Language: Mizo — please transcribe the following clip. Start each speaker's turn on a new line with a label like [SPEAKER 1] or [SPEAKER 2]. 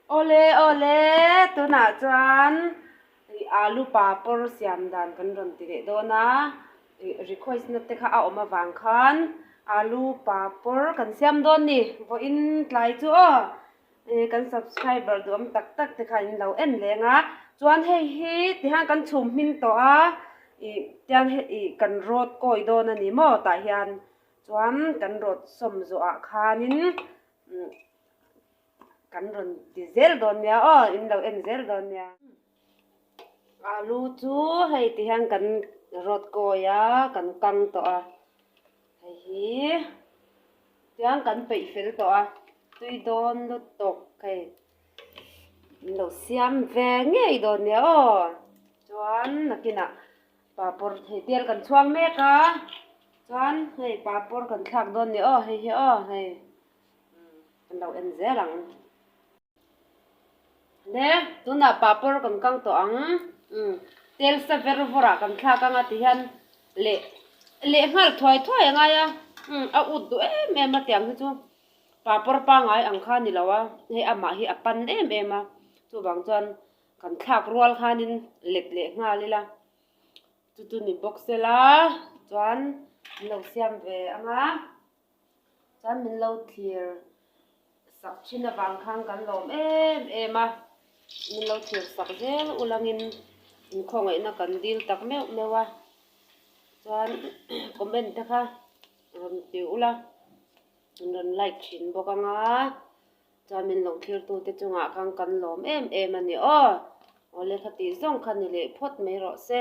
[SPEAKER 1] Awle awle tunah chuan ih alu papawr siam dan kan rawn ti leh dawn a ih request na te kha a awm avang khan alu papawr kan siam dawn ni vawiin tlai chu aw Hei kan subscriber duham tak tak te khan in lo en leng a chuan hei hi ti hian kan chhum hming tawh a ih tiang he ih kan road kawi dawn a ni maw tah hian chuan kan road sawm zawh ah khan in umm kan rawn ti zel dawn nia aw in lo en zel dawn nia. Alu chu hei ti hian kan rawt kawi a, kan kang tawh a, hei hi tiang kan peih fel tawh a, tui dawn lut tawh hei an lo siam ve ngei dawn nia aw, chuan nakinah paper hei tel kan chhuak mek a, chuan hei paper kan thlak dawn nia aw hei hi aw hei an lo en zel ang. Nge, tunah papur kan kang tawh ang. Umm, tel sa ber vawrah kan thlak ang a ti hian leh leh nghal thuai thuai a ngai a. Umm, a ut duh em em a tiang hi chu papur pangai ang kha ni lo a, hei amah hi a pan em em a. Chuvang chuan kan thlak rual khanin let leh nghal ila. Chu chu ni bawk sela chuan an lo siam ve ang a. Chuan min lo thlir sak thin avang khan kan lawm em em a, min lo thlir sak zel ulangin inkhawngaihnaa kan dil tak meuh meuh a, chuan comment te kha rawn ti ula, an rawn like thin bawk anga, chuan min lo thlirtu te chungah khan kan lawm em em a ni aw, awle khati zawng kha ni leh phawt mai rawh se.